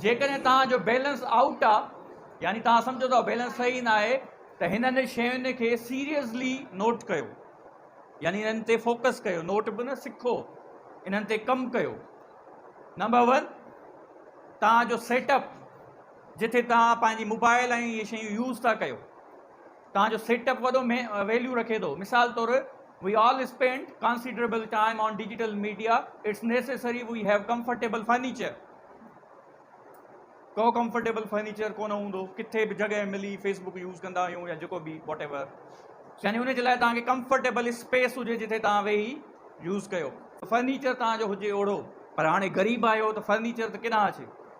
جيڪڏهن توهان جو بيلنس آئوٽ آ يعني توهان سمجهو ٿا بيلنس صحيح ناهي ته هنن شين کي سيريسلي نوٽ ڪيو يعني انهن تي فوڪس ڪيو نوٽ به نه سکو انهن تي ڪم ڪيو نمبر ون توهان جو سيٽ اپ جتي توهان پنهنجي موبائل ۽ اهي شيون يوز ٿا ڪيو توهان جو سيٽ اپ وڏو ويليو رکي ٿو مثال طور we all spend considerable time on digital media it's necessary we have comfortable furniture ڪو ڪمفرٽيبل فرنيچر ڪونه هوندو ڪٿي به جڳهه ملي فيسبوڪ يوز ڪندا آهيون يا جيڪو به واٽ ايور يعني ان جي لاء توهان کي ڪمفرٽيبل اسپيس هجي جتي توهان ويهي يوز ڪيو فرنيچر توهان جو هجي اوڙو پر هاڻي غريب آهيو ته فرنيچر ته ڪيڏانهن اچي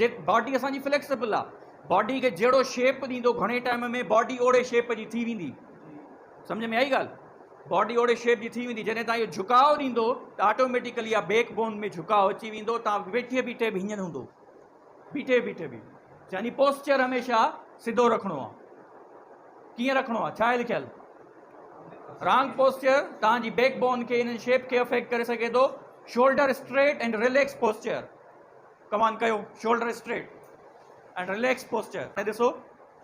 جي باڊي اسان جي فليڪسبل آ باڊي کي جهڙو شيپ ڏيندو گهڻي ٽائيم ۾ باڊي اوڙي شيپ جي ٿي ويندي سمجھ ۾ آئي ڳالھ باڊي اوڙي شيپ جي ٿي ويندي جڏهن تان اهو جھڪاء ڏيندو ته آٽوميٽيڪلي آ بيڪ بون ۾ جھڪاء اچي ويندو تان ويٺي بيٺي به هيئن هوندو بيٺي بيٺي به يعني پوسچر هميشه سڌو رکڻو آ ڪيئن رکڻو آ ڇا آهي لکيل رانگ پوسچر تان جي بيڪ بون کي ان شيپ کي افيڪٽ ڪري سگهي ٿو shoulder straight and relax posture ڪمان ڪيو شولڊر اسٽريٽ ۽ رليڪس پوسچر ۾ ڏسو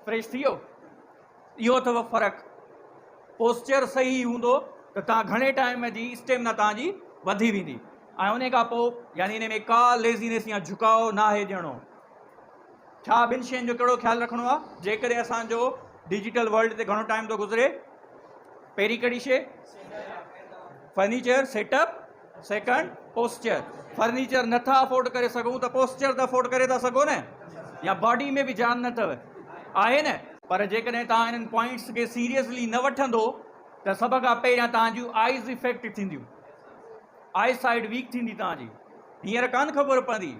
فريش ٿي ويو اهو اٿو فرق پوسچر صحيح هوندو ته توهان گهڻي ٽائيم جي اسٽيمنا توهان جي وڌي ويندي ۽ ان کان پوء يعني ان ۾ ڪا ليزينس يا جھڪاء نه آهي ڏيڻو ڇا ٻن شين جو ڪهڙو خيال رکڻو آهي جيڪڏهن اسان جو ڊجيٽل ورلڊ تي گهڻو ٽائيم ٿو گذري پهرين ڪهڙي شي furniture set up second posture furniture نٿا افورڊ ڪري سگهون ته پوسچر ته افورڊ ڪري ٿا سگهو نه يا باڊي ۾ به جان نه اٿو آهي نه پر جيڪڏهن توهان انهن پوائنٽس کي سيريسلي نه وٺندو ته سڀ کان پهريان توهان جون آئيز افيڪٽ ٿينديون آئي سائيڊ ويڪ ٿيندي توهان جي هينئر ڪان خبر پوندي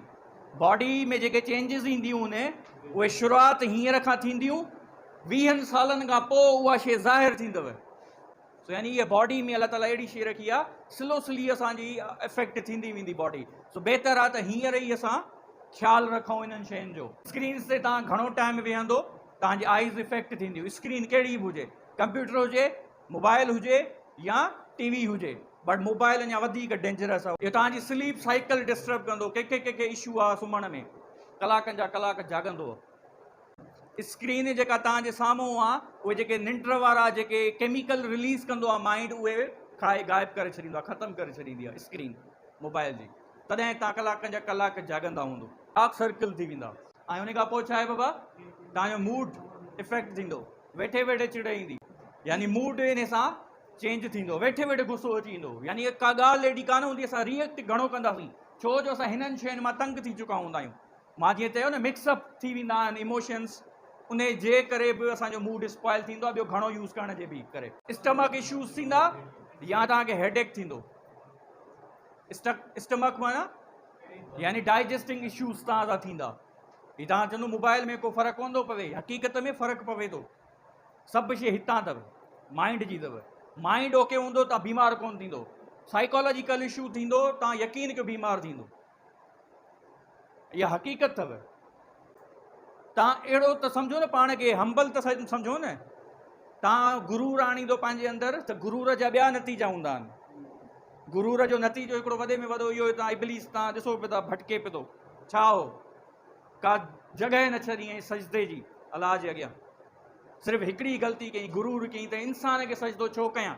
باڊي ۾ جيڪي چينجز اينديون نه اهي شروعات هينئر کان ٿينديون ويهن سالن کان پوء اها شي ظاهر ٿيندو سو يعني هيء باڊي ۾ الله تعاليٰ اهڙي شيء رکي آ سلو سلي اسان جي افيڪٽ ٿيندي ويندي باڊي سو بهتر آ ته هينئر ئي اسان خيال رکون انهن شين جو. اسڪرينز تي توهان گهڻو ٽائيم ويهندو توهان جي آئيز افيڪٽ ٿينديون اسڪرين ڪهڙي به هجي ڪمپيوٽر هجي موبائل هجي يا ٽي وي هجي بٽ موبائل اڃا وڌيڪ ڊينجرس آ اهو توهان جي سليپ سائيڪل ڊسٽرب ڪندو ڪنهن کي ڪنهن کي اشو آ سمهڻ ۾ ڪلاڪن جا ڪلاڪ جاڳندو اسڪرين جيڪا توهان جي سامهون آ اهي جيڪي ننڊ وارا جيڪي ڪيميڪل رليز ڪندو آ مائنڊ اهي کائي غائب ڪري ڇڏيندو آ ختم ڪري ڇڏيندي آ اسڪرين موبائل جي تڏهن توهان ڪلاڪن جا ڪلاڪ جاڳندا هوندو ڊارڪ سرڪل ٿي ويندا ۽ ان کان پوء ڇا آهي بابا توهان جو موڊ افيڪٽ ٿيندو ويٺي ويٺي چڙ ايندي يعني موڊ ان سان چينج ٿيندو ويٺي ويٺي غصو اچي ويندو يعني ڪا ڳالهه ايڏي ڪانه هوندي اسان ريئيڪٽ گهڻو ڪنداسين ڇو جو اسان هنن شين مان تنگ ٿي چڪا هوندا آهيون مان جيئن چيو نه مڪس اپ ٿي ويندا آهن ايموشنس انهي جي ڪري به اسان جو موڊ اسپائل ٿيندو آهي ٻيو گهڻو يوز ڪرڻ جي به ڪري اسٽمڪ اشوز ٿيندا يا توهان کي هيڊ ايڪ ٿيندو اسٽڪ اسٽمڪ معنی يعني ڊائجسٽنگ اشوز تان سا ٿيندا هي تان چندو موبائل ۾ ڪو فرق ڪون ٿو پوي حقيقت ۾ فرق پوي ٿو سڀ شيء هتان اٿو مائنڊ جي اٿو مائنڊ اوڪي هوندو تان بيمار ڪون ٿيندو سائيڪالاجيڪل اشو ٿيندو تان يقين ڪيو بيمار ٿيندو اها حقيقت اٿو تان اهڙو ته سمجهو نه پاڻ کي همبل ته سمجهو نه تان گرور آڻيندو پنهنجي اندر ته گرور جا ٻيا نتيجا هوندا آهن گرور جو نتيجو هڪڙو وڏي ۾ وڏو اهو تان ابليس تان ڏسو پيو ٿا ڀٽڪي پيو ٿو ڇا هو کا جڳهه نه ڇڏي ۽ سجدي جي الاج جي اڳيان صرف هڪڙي غلطي ڪئي گرور ڪئي ته انسان کي سجدو ڇو ڪيان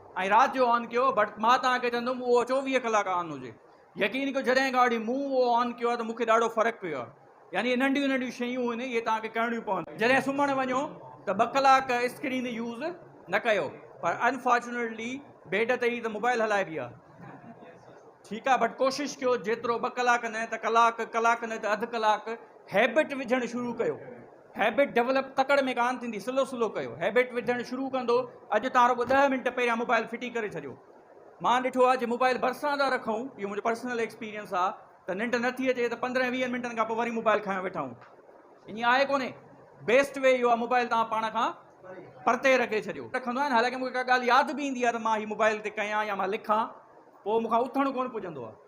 ۽ رات جو آن ڪيو بٽ مان توهان کي چوندم اهو چوويهه ڪلاڪ آن هجي يقين ڪيو جڏهن کان وٺي مون اهو آن ڪيو آهي ته مون کي ڏاڍو فرق پيو آهي يعني اهي ننڍيون ننڍيون شيون آهن اهي توهان کي ڪرڻيون پونديون جڏهن سمهڻ وڃو ته ٻه ڪلاڪ اسڪرين يوز نه ڪيو پر انفارچونيٽلي بيڊ تي ئي ته موبائل هلائبي آهي ٺيڪ آهي بٽ ڪوشش ڪيو جيترو ٻه ڪلاڪ نه ته ڪلاڪ ڪلاڪ نه ته اڌ ڪلاڪ هيبٽ وجهڻ شروع ڪيو هيبٽ ڊولپ تڪڙ ۾ ڪانه ٿيندي سلو سلو ڪيو هيبٽ وڌڻ شروع ڪندو اڄ تان رڳو ڏهه منٽ پهريان موبائل ڦٽي ڪري ڇڏيو مان ڏٺو آهي جي موبائل ڀرسان ٿا رکون اهو منهنجو پرسنل ايڪسپيرينس آهي ته ننڊ نه ٿي اچي ته پندرهن ويهن منٽن کان پوء وري موبائل کڻي ويٺا آهيون ائين آهي ڪونهي بيسٽ وي اهو آهي موبائل تان پاڻ کان پرتي رکي ڇڏيو رکندو آهيان حالانڪه مونکي ڪا ڳالهه ياد به ايندي آهي ته مان هي موبائل تي ڪيان يا مان لکان پوء مونکان اٿڻ ڪونه پڄندو آهي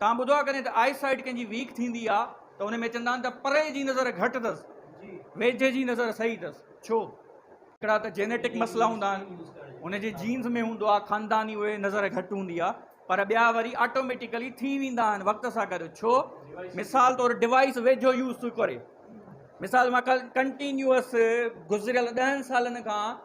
توهان ٻڌو آهي ڪڏهن ته آئي سائيٽ ڪنهن جي ويڪ ٿيندي آهي ته ان ۾ چوندا آهن ته پري جي نظر گهٽ اٿس ويجهي جي نظر صحيح اٿس ڇو هڪڙا ته جينيٽڪ مسئلا هوندا آهن ان جي جينز ۾ هوندو آهي خانداني اهي نظر گهٽ هوندي آهي پر ٻيا وري آٽوميٽيڪلي ٿي ويندا آهن وقت سان گڏ ڇو مثال طور ڊوائس ويجهو يوز ٿو ڪري مثال مان ڪنٽينيوس گذريل ڏهن سالن کان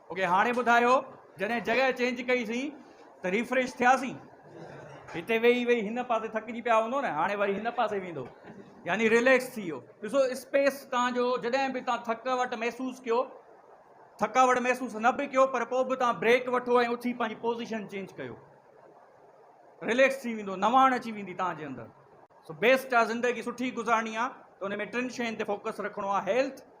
اوڪي هاڻي ٻڌايو جڏهن جڳهه چينج ڪئي سين ته ريفريش ٿيا سين هتي ويهي ويهي هن پاسي ٿڪجي پيا هوندو نه هاڻي وري هن پاسي ويندو يعني ريليڪس ٿي ويو ڏسو اسپيس تان جو جڏهن به تان ٿڪاوٽ محسوس ڪيو ٿڪاوٽ محسوس نه به ڪيو پر پوء به تان بريڪ وٺو ۽ اٿي پنهنجي پوزيشن چينج ڪيو ريليڪس ٿي ويندو نواڻ اچي ويندي تان جي اندر سو بيسٽ آ زندگي سٺي گذارڻي آ ته ان ۾ ٽن شين تي فوڪس رکڻو آ هيلٿ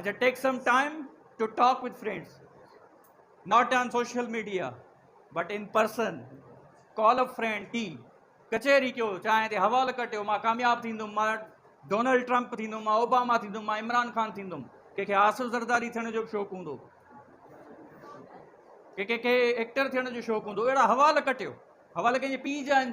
اچا take some time to talk with friends not on social media but in person call up friend ٽي ڪچهري ڪيو چانهه تي حوال ڪٽيو مان ڪامياب ٿيندم مان ڊونلڊ ٽرمپ ٿيندم مان اوباما ٿيندم مان عمران خان ٿيندم ڪنهنکي آصف زرداري ٿيڻ جو به شوق هوندو ڪنهنکي ايڪٽر ٿيڻ جو شوق هوندو اهڙا حوال ڪٽيو حوال ڪنهنجي پيء جا آهن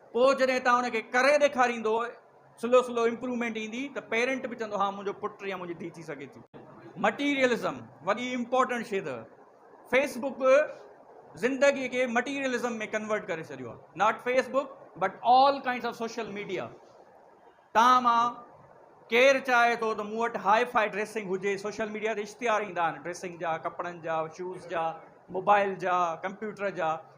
پوء جڏهن تان ان کي ڪري ڏيکاريندو سلو سلو امپرومينٽ ايندي ته پيرنٽ به چوندو ها منهنجو پٽ يا منهنجي ڌي ٿي سگهي ٿي. مٽيريلزم وڏي امپورٽنٽ شي اٿئ فيس بڪ زندگي کي مٽيريلزم ۾ ڪنورٽ ڪري ڇڏيو آ not fee book but all kinds of social media تان مان ڪير چاهي ٿو ته مون وٽ هائي فائي ڊريسنگ هجي سوشل ميڊيا تي اشتهار ايندا آهن ڊريسنگ جا ڪپڙن جا شوز جا موبائل جا ڪمپيوٽر جا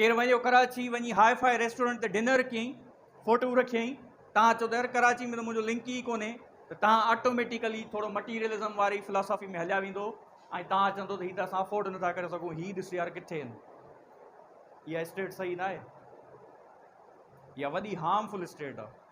ڪير ويو ڪراچي وڃي هاء فاء ريسٽورنٽ تي ڊنر ڪيئي فوٽو رکيئي تهان چئو ته يار ڪراچي ۾ ته منهنجو لنڪ ئي ڪونهي ته تهان آٽوميٽيڪلي ٿورو مٽيريلزم واري فلاسافي ۾ هليا ويندو ۽ تهان چوندو ته هي ته اسان افورڊ نٿا ڪري سگهون هي ڏس يار ڪٿي آهن اها اسٽيٽ صحيح ناهي اها وڏي هارمفل اسٽيٽ آهي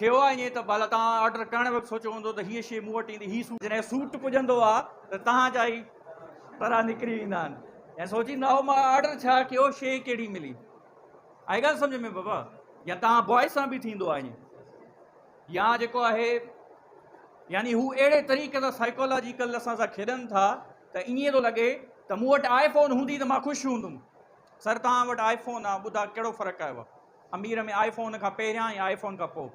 ٿيو آ ائين ته ڀلا توهان آرڊر ڪرڻ وقت سوچيو هوندو ته هيء شيء مون وٽ ايندي هي سوٽ جڏهن سوٽ پڄندو آ ته تهان جا ئي ترا نڪري ويندا آهن ۽ سوچيندا هو مان آرڊر ڇا ڪيو شيء ڪهڙي ملي آئي ڳالهه سمجهه ۾ بابا يا توهان بوائز سان به ٿيندو آ ائين يا جيڪو آهي يعني هو اهڙي طريقي سان سائيڪالاجيڪل اسان سان کيڏن ٿا ته ائين ٿو لڳي ته مون وٽ آئي فون هوندي ته مان خوش هوندم سر توهان وٽ آئي فون آ ٻڌا ڪهڙو فرق آيو آ امير ۾ آئي فون کان پهريان ۽ آئي فون کان پوء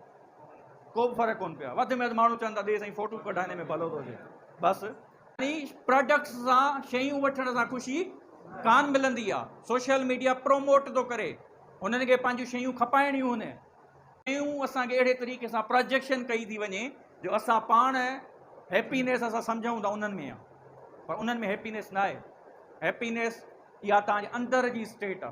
ڪو به فرق ڪونه پيو آهي وڌ ۾ وڌ ماڻهو چون ٿا ڏي سائين فوٽو ڪڍائڻي ۾ ڀلو ٿو هجي بس. يعني پراڊڪٽس سان شيون وٺڻ سان خوشي ڪان ملندي آ سوشل ميڊيا پروموٽ ٿو ڪري هنن کي پنهنجون شيون کپائڻيون هن شيون اسان کي اهڙي طريقي سان پراجيڪشن ڪئي ٿي وڃي جو اسان پاڻ هيپينيس اسان سمجهون ٿا انهن ۾ آ پر انهن ۾ هيپينيس ناهي هيپينيس اها تهان جي اندر جي اسٽيٽ آ.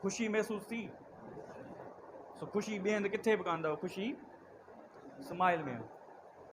خوشي محسوس ٿي سو خوشي ٻئي هنڌ ڪٿي به ڪانه اٿئو خوشي اسماعيل ۾ آهي